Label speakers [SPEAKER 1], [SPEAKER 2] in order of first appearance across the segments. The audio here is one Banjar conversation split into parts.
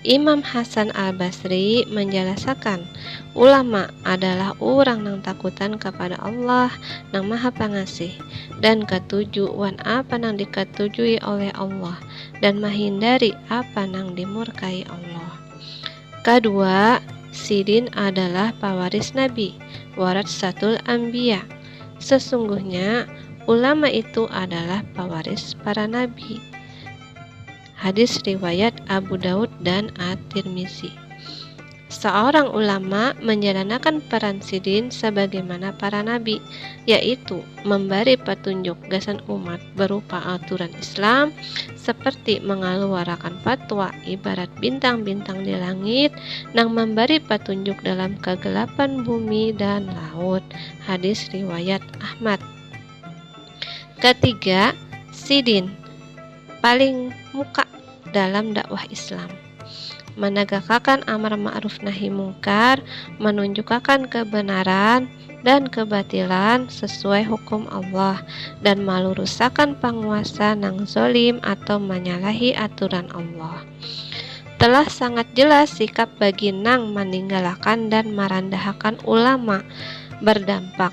[SPEAKER 1] Imam Hasan Al-Basri manjalasakan, ulama adalah urang nang takutan kapada Allah nang Maha Pangasih dan katuju wan apa nang dikatujui oleh Allah dan mahindari apa nang dimurkai Allah. Kadua, sidin adalah pawaris nabi, waratsatul ambiya. Sesungguhnya, ulama itu adalah pawaris para nabi. Hadis riwayat Abu Daud dan At-Tirmizi. Seorang ulama menjalanakan peran sidin sebagaimana para nabi, yaitu memberi petunjuk gasan umat berupa aturan Islam seperti mengeluarkan fatwa ibarat bintang-bintang di langit nang memberi petunjuk dalam kegelapan bumi dan laut. Hadis riwayat Ahmad. Ketiga, sidin paling muka dalam dakwah Islam. Managakakan amar ma'ruf nahi mungkar, manunjukakan kebenaran dan kebatilan sesuai hukum Allah, dan malurusakan panguasa nang zolim atau manyalahi aturan Allah. Telah sangat jelas sikap bagi nang maninggalakan dan marandahakan ulama bardampak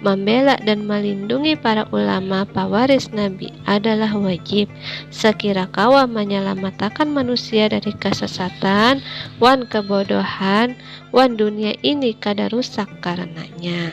[SPEAKER 1] Mambela dan malindungi para ulama pawaris Nabi adalah wajib, sakira kawa manyalamatakan manusia dari kasasatan wan kabodohan wan dunia ini kada rusak karananya.